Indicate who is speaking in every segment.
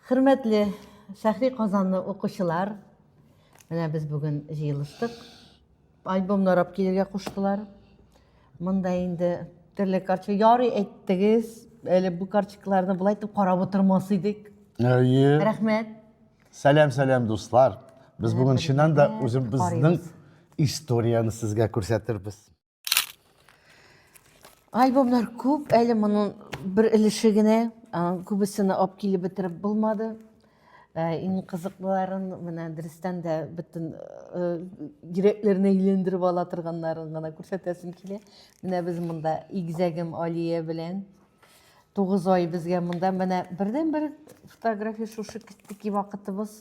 Speaker 1: Хөрмәтле Шәхри Казанны укучылар, менә без бүген җыелыштык. Альбом нарап килергә куштылар. Монда инде төрле карчы ярый әйттегез. Әле бу карчыкларны болай итеп карап утырмас идек. Әйе. Рәхмәт. Сәлам, сәлам дуслар. Без бүген чыннан да үзебезнең историяне сезгә күрсәтербез. Альбомнар күп, әле моның бер өлеше генә, күбесен алып килеп бетереп булмады. Ә, иң кызыклыларын менә дөрестән дә бөтен йөрәкләрне э, әйләндереп ала торганнарын гына күрсәтәсем килә. Менә без монда игзәгем Алия белән тугыз ай безгә монда менә бердән бер фотография шушы китеки вакытыбыз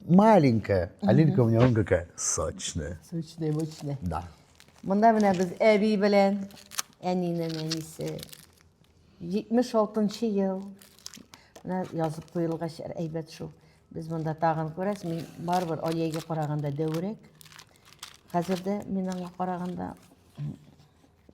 Speaker 1: маленькая, а Лилька у меня он какая сочная. Сочная, мощная. Да. Монда менә без әби белән әнинең әнисе 76 ел. Менә язып куелгач әйбәт шул. Без монда тагын күрәс, мин барыбер Алиягә караганда дәүрәк. Хәзер дә мин аңа караганда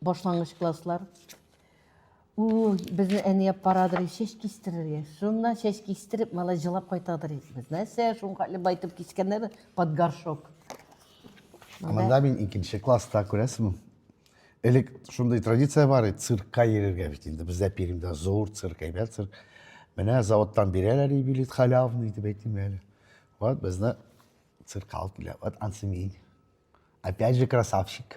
Speaker 1: Башлангыч класслар. У, безне әни алып барадыр, чәч кистерергә. Шуннан чәч кистереп, малай җылап кайтадыр. Без нәрсә, шуңа әле байтып кискәннәр под горшок. Монда мин икенче класста күрәсең. Элек шундый традиция бар иде, циркка йөрергә бит инде. Бездә Пермьдә зур цирк, әйбәт цирк. Менә заводтан бирәләр и билет халявный дип әйтим әле. Вот безне циркка алып килә. Вот Ансемин. Опять же красавчик.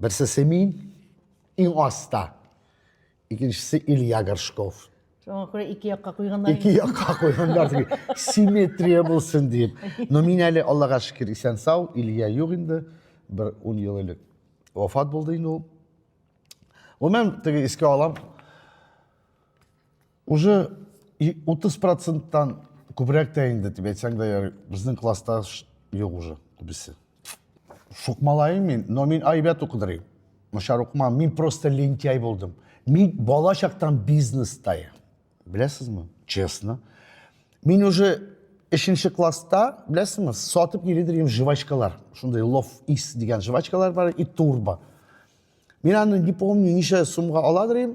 Speaker 1: Берсе Семин, иң аста. Икенчесе Илья Горшков. Шуңа күрә ике якка куйганнар. Ике якка куйганнар дип, симметрия булсын дип. Но мин әле, Аллага шөкер, исән сау, Илья юк инде. Бер ун ел элек вафат булды инде ул. Гомумән, теге искә алам. Уже 30 проценттан күбрәк тә инде, дип әйтсәң дә ярый, безнең класста юк уже күбесе. Шукмалаем мин, но мин әйбәт укыдырыйм. Начар укымам, мин просто лентяй булдым. Мин бала чактан бизнеста я. Беләсезме? Честно. Мин уже Эшенче класста, беләсеңме, сатып йөри дигән жвачкалар. Шундый лов ис дигән жвачкалар бар и турбо. Мин аны не помню, ничә сумга ала дигән.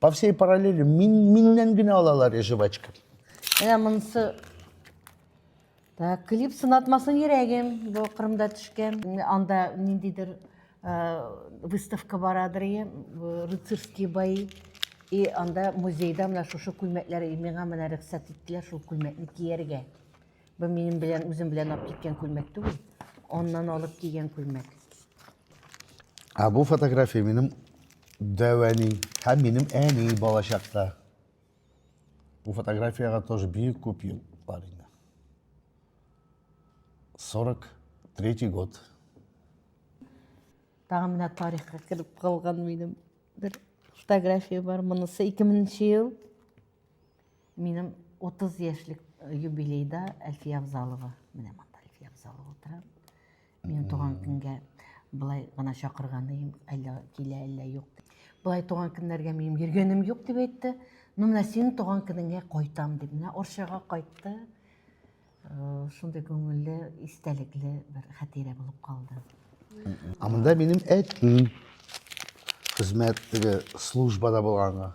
Speaker 1: По всей параллели мин, миннән генә алалар и жвачка. Менә монысы Так, клип сынатмасын йөрәгем. Бу Кырымда төшкән. Анда ниндидер выставка барадыр, рыцарские бои. И анда музейда менә шушы күлмәкләр миңа менә рөхсәт иттеләр шул күлмәкне кияргә. Бу минем белән үзем белән алып киткән күлмәк түгел. Аннан алып кигән күлмәк. Ә бу фотография минем дәвәни һәм минем әни балачакта. Бу фотографиягә тоже бик күп ел бар инде. 43 год. Тагын менә тарихка кереп калган минем бер фотография бар. Монысы 2000 ел. Минем 30 яшьлек юбилейда Әлфия Авзалова, менә монда Әлфия Авзалова утыра. Минем туган көнгә былай гына чакырганым, әллә килә, әллә юк. Былай туган көннәргә минем йөргәнем юк дип әйтте. Ну, менә синең туган көнеңә кайтам дип, менә Орчага кайтты. Э, Шундый күңелле, истәлекле бер хәтирә булып калды. А монда минем әтим хезмәт теге службада булганга.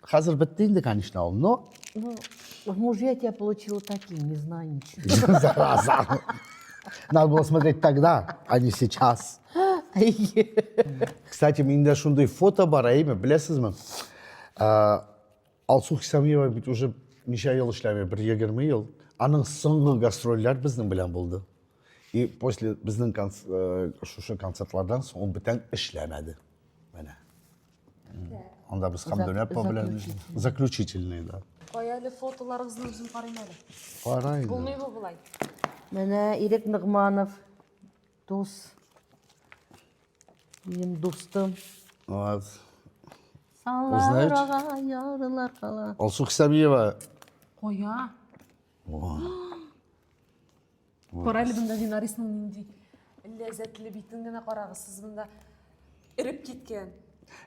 Speaker 1: Хәзер бетте инде, конечно, ул, но... Ну, в мужья я тебя получила таким, не знаю ничего. Зараза. Надо было смотреть тогда, а не сейчас. Кстати, менде шундай фото бар, әйме, беләсезме? Алсу Хисамиева бит уже ничә ел эшләми, бер егерме ел. Аның соңгы гастрольләр безнең белән булды. И после безнең шушы концертлардан соң ул бүтән эшләмәде. Менә. Анда без һәм дөнья по белән заключительный да. Кая әле фотоларыгызны үзем карыйм әле. Кара инде. Булмый бу болай. Менә Ирек Нигманов дус. Минем дустым. Вот. Саллар ага, ярылар кала. Алсу Хисамиева. Кая? Кара әле монда Динарисның нинди ләззәтле битен генә карагыз, сез монда эреп киткән.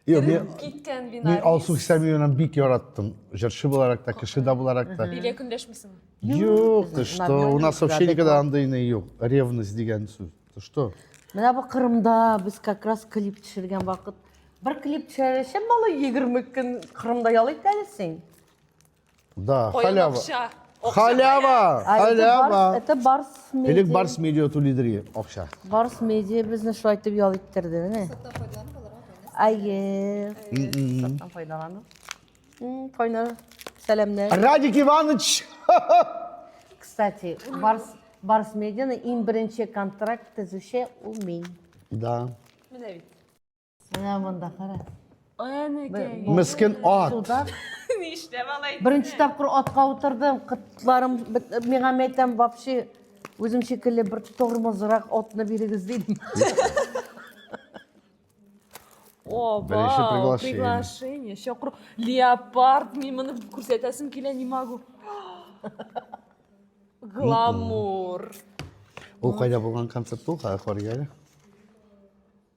Speaker 1: Юк, мин киткән Динарис. Мин Алсу Хисамиевнаны бик яраттым. Җырчы буларак та, кеше дә буларак та. Бигә көндәшмисеңме? Юк, ты что? У нас вообще никогда андый не юк. Ревность дигән сүз. Ты что? Менә бу Кырымда без как раз клип төшергән вакыт. Бер клип төшәрәчәк, малай 20 көн Кырымда ял итәлсең. Да, Ой, халява. Акча. Акча, Халява, А, это халява. Барс- Это Барс Медиа. Элек Барс Медиа Тулидри акча. Барс Медиа безне шулай итеп ял иттерде, менә. Саттан файдаланып алырга кайнас. Әйе. Саттан файдалану. М, Кайнар, сәламнәр. Радик Иванович! Кстати, Барс Барс Медианы иң беренче контракт төзүче ул мин. Да. Менә бит. Менә монда кара. Әнекәй. Мискен ат. Суда Нишләп алай? Беренче тапкыр атка утырдым. Кытларым бит- миңа мәйтәм вообще үзем шикелле бер тормозрак атны бирегез дидем. О, Беренче вау, приглашение. приглашение. Чакыру. Леопард, мин моны күрсәтәсем килә, не могу. Гламур. Ул кайда булган концерт ул? Кая куарга әле?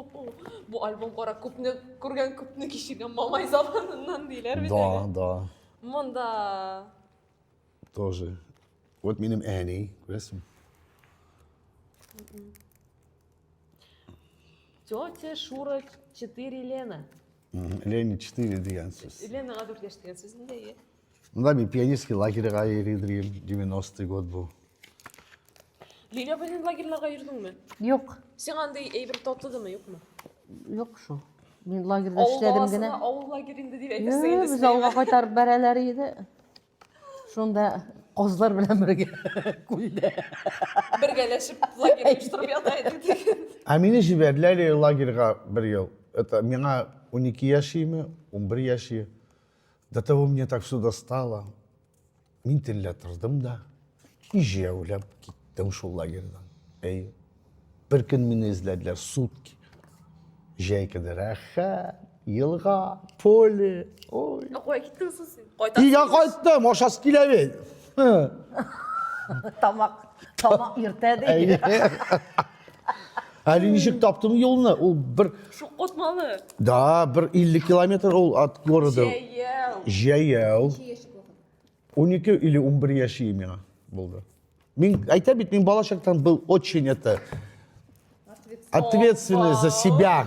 Speaker 1: Бу альбом кара күпне күргән, күпне кичергән мамай заманыннан диләр бит. Да, да. Монда тоже. Вот минем әни, күрәсең? Тетя Шура 4 Лена. Лена 4 дигән сүз. Ленага 4 яшь дигән сүз инде. Ну да, мен пионерский лагерьга йөридем, 90-й год бу. Лилия белән лагерьларга йөрдеңме? Юк. Сиңа андый әйбер татыдымы, юкмы? Юк шул. Мин лагерьда Авыл эшләдем баласына генә. авыл лагерь инде дип әйтәсең Юк, инде. без авылга кайтарып бәрәләр иде. Шунда козлар белән бергә күлдә. Бергәләшеп лагерь оештырып ята идек диген. Ә мине җибәрделәр лагерьга бер ел. Это миңа 12 яшиме, 11 яши. До того мне так все достало. Мин төнлә тордым да, ижәүләп киттем шул лагерьдан. Әйе. Бер көн мине эзләделәр сутки. Җәй көне рәхәт, елга, поле. Ой. Кая киттең соң син? Кайта. Өйгә кайттым, ашасы килә бит. Һы. Тамак, тамак иртә ди. Әйе. Әле ничек таптым юлны? Ул бер Шук котмалы. Да, бер 50 километр ул от города. Җәяү. Җәяү. 12 или 11 яшь миңа булды. Мин әйтә бит, мин балачактан был очень это ответственный за себя.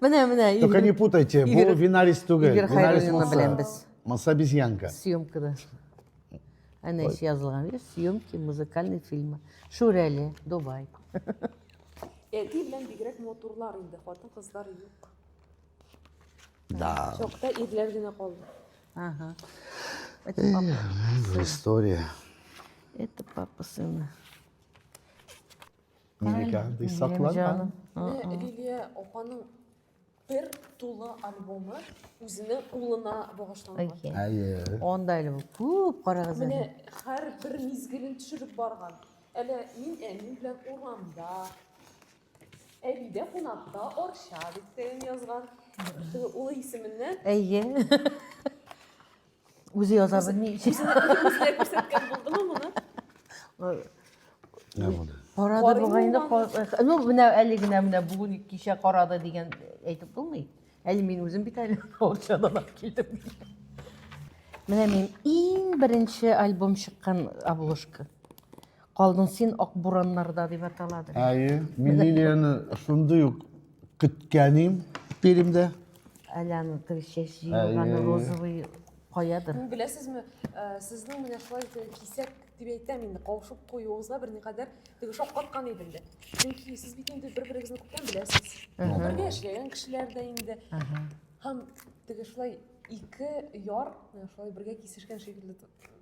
Speaker 1: Менә, менә. Только не путайте, бу винарис түгел. Игорь Хайруллинны белән без. Маса обезьянка. Съемкада. Әнә эш язылган, видишь, съемки музыкальный фильмы. Шүрәле, Дубай. Әти белән бигрәк матурлар инде, хатын кызлар юк. Да. Чокта ирләр генә калды. Ага. Это папа. История. Это папа сына. Нинеке андый сакланган? Лилия апаның бер тулы альбомы үзенең улына багышланган. Әйе. Анда әле күп карагыз. Менә һәр бер мизгелен төшереп барган. Әле мин әни белән урамда. Әбидә кунакта Орча дип тәем язган. Улы исеменнән. Әйе. Үзе яза белми. Үзенә күрсәткән булдымы моны? Нә булды? Карады бугай инде. Ну, менә әле генә менә бүген кичә карады дигән әйтеп булмый. Әле мин үзем бит әле акчадан алып килдем. Менә мин иң беренче альбом чыккан обложка. Калдың син ак бураннарда дип атала. Әйе, мин Лилияны шундый ук көткәнем Пермьдә. Әле аны теге чәч җыелган розовый каядыр. Беләсезме, э, сезнең менә шулай кисәк дип әйтәм инде, каушып куюыгызга берникадәр теге шаккаткан идем дә. Чөнки сез бит инде бер-берегезне күптән беләсез. Бергә эшләгән кешеләр дә инде. Һәм теге шулай ике яр шулай бергә кисешкән шикелле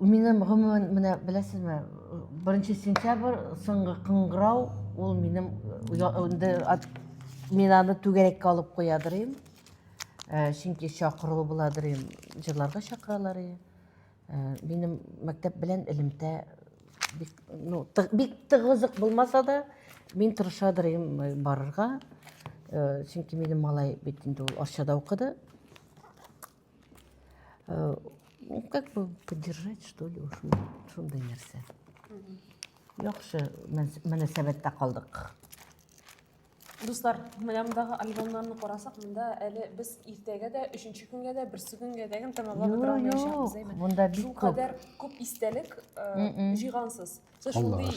Speaker 1: Минем гомумән менә беләсезме, беренче сентябрь соңгы кыңгырау ул минем инде мин аны түгәрәккә алып куядыр идем. Э, чөнки чакыру буладыр идем, җырларга чакыралар иде. Э, минем мәктәп белән элемтә бик, ну, бик тыгызык булмаса да, мин тырышадыр идем э, барырга. Чөнки минем малай бит инде ул Арчада укыды. Э, ну, как бы поддержать, что ли, уж шундай нәрсә. Яхшы мөнәсәбәттә калдык. Дуслар, менә мондагы альбомнарны карасак, монда әле без иртәгә дә, өченче көнгә дә, берсе көнгә дә генә тәмамлап бетерә алмаячакбыз. Монда бик күп. Шулкадәр күп истәлек э, җыйгансыз. Сез шундый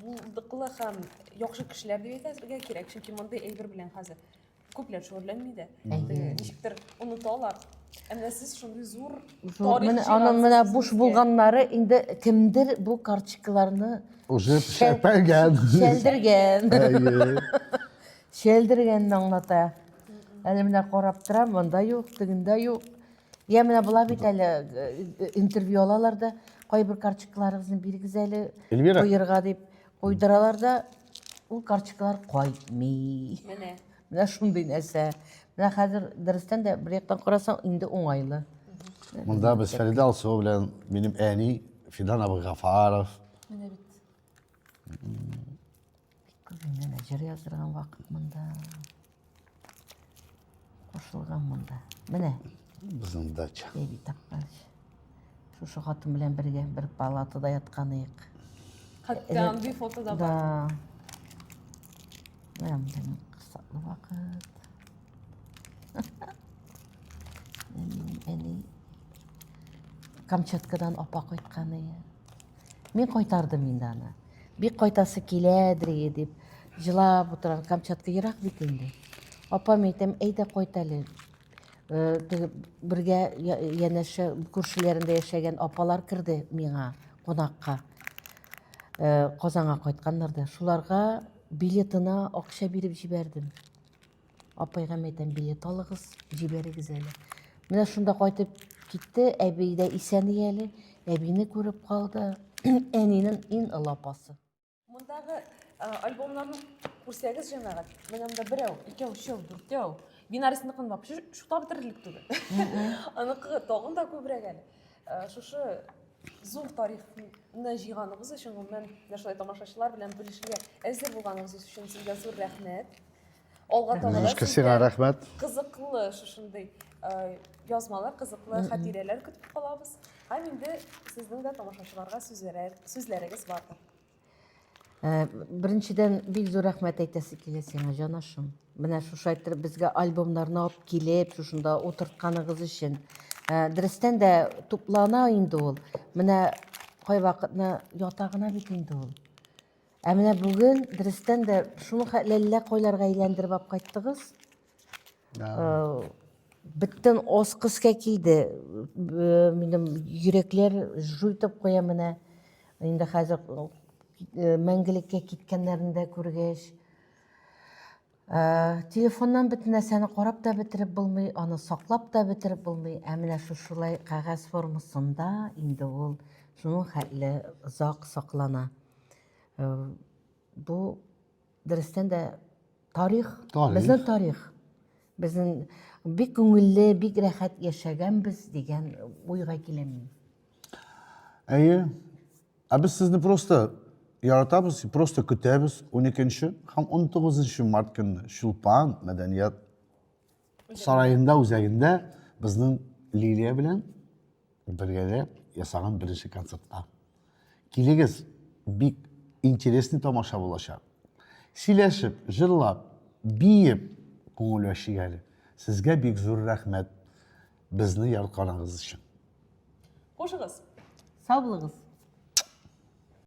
Speaker 1: булдыклы һәм яхшы кешеләр дип әйтергә кирәк, чөнки мондый әйбер белән хәзер Күпләр шөгыльләнми дә. Теге, Ничектер оныталар. Ә менә сез шундый зур Зур. тарих Менә аның җыйгансыз менә буш үзегезгә. булганнары инде кемдер бу карточкаларны Уже Шәл- шәпәгән. шәлдергән. Әйе. Шәлдергәнне аңлата. Әле менә карап торам, монда юк, тегендә юк. Я менә була бит әле э, э, интервью алалар да, кайбер карточкаларыгызны бирегез әле Эльвира. куерга дип куйдыралар да, Ул карточкалар кайтмый. Менә. Менә шундый нәрсә. Менә хәзер дөрестән дә бер яктан карасаң инде уңайлы. Монда без Фәридә Алсуова белән минем әни Фидан абый Гафаров. Менә бит. Күзеңнән җыр яздырган вакыт монда. Кушылган монда. Менә. Безнең дача. Беби тапкан. Шушы хатын белән бергә бер палатада яткан идек. Хәтта андый фото да бар. Да. Менә монда кысаклы вакыт. Әни Камчаткадан апа кайткан иде. Мин кайтардым инде аны. Бик кайтасы килә, Дрие, дип җылап утырган Камчатка ерак бит инде. Апам әйтәм, әйдә кайт әле. Э, теге бергә янәшә күршеләрендә яшәгән апалар керде миңа кунакка. Э, Казанга кайтканнар да. Шуларга билетына акча биреп җибәрдем. Апайга мен әйтәм, билет алыгыз, җибәрегез әле. Менә шунда кайтып китте, әби дә исән әле, әбине күреп калды, әнинең иң олы апасы. Мондагы альбомнарны күрсәгез, җәмәгать, менә монда берәү, икәү, өчәү, дүртәү. Бинарисникын бап, шута бетерерлек түгел. Аныкы тагын да күбрәк әле. Шушы зур тарихны җыйганыгыз өчен, гомумән, менә шулай тамашачылар белән бүлешергә әзер булганыгыз өчен сезгә зур рәхмәт. Алга таба Немножко сиңа рәхмәт. Кызыклы шушындый э, язмалар, кызыклы хатирәләр көтеп калабыз. Һәм инде сезнең дә тамашачыларга сүзләрегез бардыр. Э, беренчедән бик зур рәхмәт әйтәсе килә сиңа җанашым менә шушы әйттереп безгә альбомнарны алып килеп шушында утыртканыгыз өчен э, дөрестән дә туплана инде ул менә кайвакытны ята гына бит инде ул ә менә бүген дөрестән дә шуны ләллә кайларга әйләндереп алып кайттыгыз Э, беттен ос кыска киде э, минем йөрәкләр жу итеп куя менә инде хәзер э, мәңгелеккә киткәннәрен дә күргәч телефоннан бөтен нәрсәне карап та бетереп булмый аны саклап та бетереп булмый ә менә шушылай кәгазь формасында инде ул шуның хәтле озак саклана бу Дөрестән дә тарих, тарих. безнең тарих. Безнең бик күңелле, бик рәхәт яшәгәнбез дигән уйга киләм мин. Әйе. Ә без сезне просто яратабыз, просто көтәбез 12 нче һәм 19 март көнне Чулпан мәдәният сараенда үзәгендә безнең лилия белән бергәләп ясаган беренче концертка килегез бик интересный тамаша булачак сөйләшеп җырлап биеп күңел ачыйк әле сезгә бик зур рәхмәт безне яртканыгыз өчен кушыгыз сау булыгыз